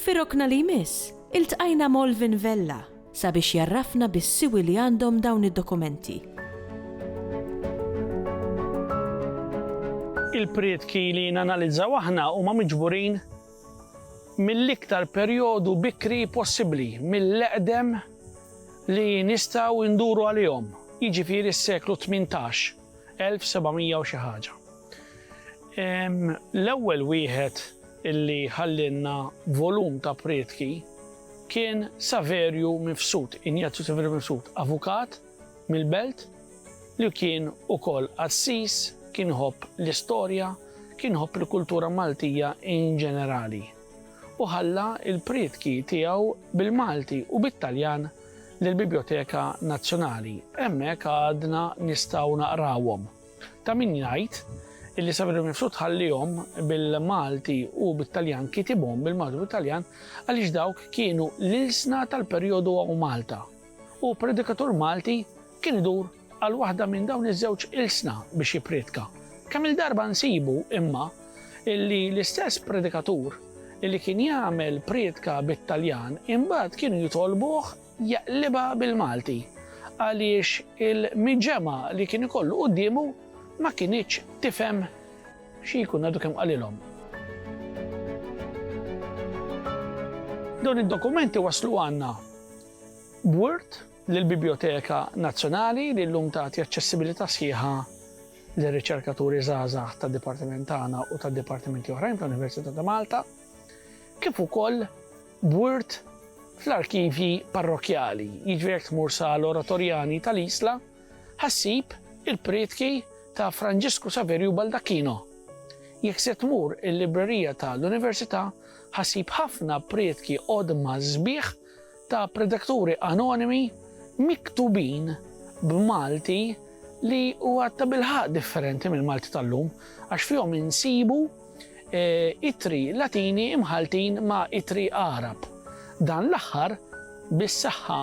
Fir-rokna li jmiss, iltqajna m'Olvin Vella sabiex jgħarrafna bis-siwi li għandhom dawn id-dokumenti. Il-prietki li nanalizzaw aħna huma miġburin mill-iktar perjodu bikri possibbli, mill-eqdem li nistgħu nduru għalihom, jiġifieri s-seklu tmintax. 1700 u xi ħaġa. L-ewwel wieħed illi ħallielna volum ta' prietki kien Saverju Mifsud, Injazju Saverju Mifsud, avukat mill-belt li kien ukoll qassis, kien iħobb l-istorja, kien iħobb il-kultura Maltija in ġenerali. U ħalla l-prietki tiegħu bil-Malti u bit-Taljan lill-Bibljoteka Nazzjonali. Hemmhekk għadna nistgħu naqrawhom. Ta' min jgħid illi Saverio Mifsud tħallihom bil-Malti u bit-Taljan kitibhom bil-Malti u bit-Taljan għaliex dawk kienu l-ilsna tal-perjodu hawn Malta u predikatur Malti kien idur għal waħda minn dawn iż-żewġ ilsna biex jippriedka. Kemm-il darba nsibu, imma, illi l-istess predikatur illi kien jagħmel priedka bit-Taljan imbagħad kienu jitolbuh jaqlibha bil-Malti għaliex il-miġemgħa li kien ikollu quddiemu ma kinitx tifhem xi jkun għadu kemm qalilhom. Dawn id-dokumenti waslu għandna b'word lill-Bibljoteka Nazzjonali li llum tagħti aċċessibilità sħiħa lir-riċerkaturi żgħażagħ tad-dipartiment tagħna u ta' dipartimenti oħrajn fl-Università ta' Malta, kif ukoll b'wirt fl-arkivji parrokkjali, jiġri jekk tmur sa l-Oratorjani tal-Isla, ħassib il-prietki ta' Franġisku Saverju Baldacchino. Jekk se tmur il-librerija ta' l-Università, ħassib ħafna prietki qodma sbieħ ta' predakturi anonimi miktubin b'Malti li huwa tabilħaqq differenti mill-Malti tal-lum għax fihom insibu ittri Latini imħalltin ma' ittri Għarab. Dan l-aħħar bis-saħħa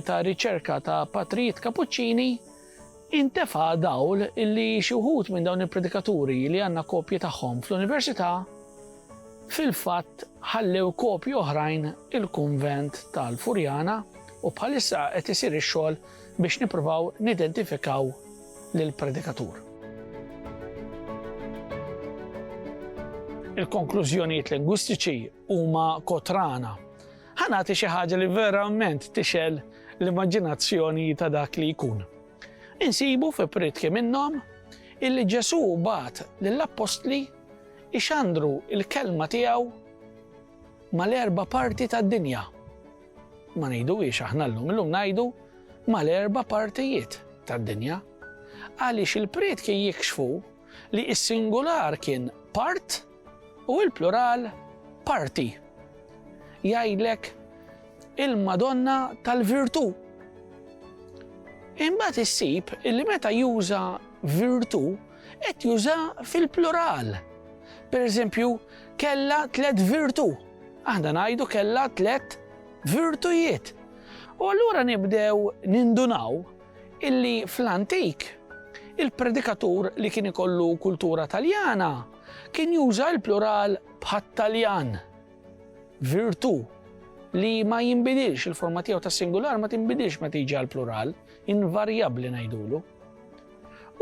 ta' riċerka ta' patrijiet Kapuċċini Intefa' dawl li xi wħud minn dawn il-predikaturi li għandna kopji tagħhom fl-Università fil-fatt ħallew kopji oħrajn il-kunvent tal-Furjana u bħalissa qed isir ix-xogħol biex nippruvaw nidentifikaw lill-predikatur. Il-konklużjonijiet lingwistiċi huma kotrana. Ħa nagħti xi ħaġa li verament tixel l-immaġinazzjoni ta' dak li jkun. Insibu fi pritki minnhom illi Ġesu bat lill-appostli ixandru il-kelma tiegħu mal-erba parti tad-dinja. Ma ngħidu ix aħna llum, illum ngħidu mal-erba partijiet tad-dinja. Għaliex il-prietki jikxfu li s-singular kien part U l-plural parti jgħidlek il-Madonna tal-Virtù. Imbagħad issib li meta juża virtù qed juża fil-plural. Per eżempju, kella tlet virtù. Aħna ngħidu kella tlet virtujiet. U allura nibdew nindunaw illi fl-antik il-predikatur li kien ikollu kultura taljana Kien juża l-plural bħat-Taljan, virtù, li ma jinbidilx, il-forma tiegħu tas-singular ma tinbidilx meta jiġi għall-plural, invarjabbli ngħidulu.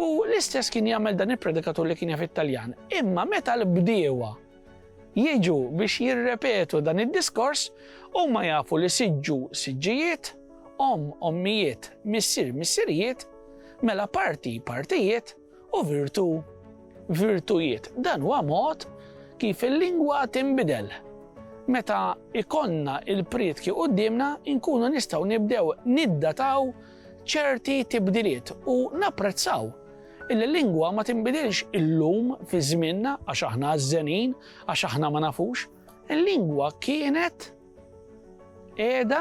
U l-istess kien jagħmel dan il-predikatur li kien jaf it-Taljan. Imma meta l-bdiewa jiġu biex jirrepetu dan id-diskors, huma jafu li siġġu siġġijiet, om ommijiet, missir missirijiet, mela parti partijiet, U virtu, virtujiet. Dan huwa mod kif il-lingwa tinbidel. Meta jkollna l-prietki quddiemna, inkunu nistgħu nibdew niddataw ċerti tibdiliet u napprezzaw illi l-lingwa ma tinbidilx illum fi żmienna għax aħna għażżenin, għax aħna ma nafux. Il-lingwa kienet qiegħda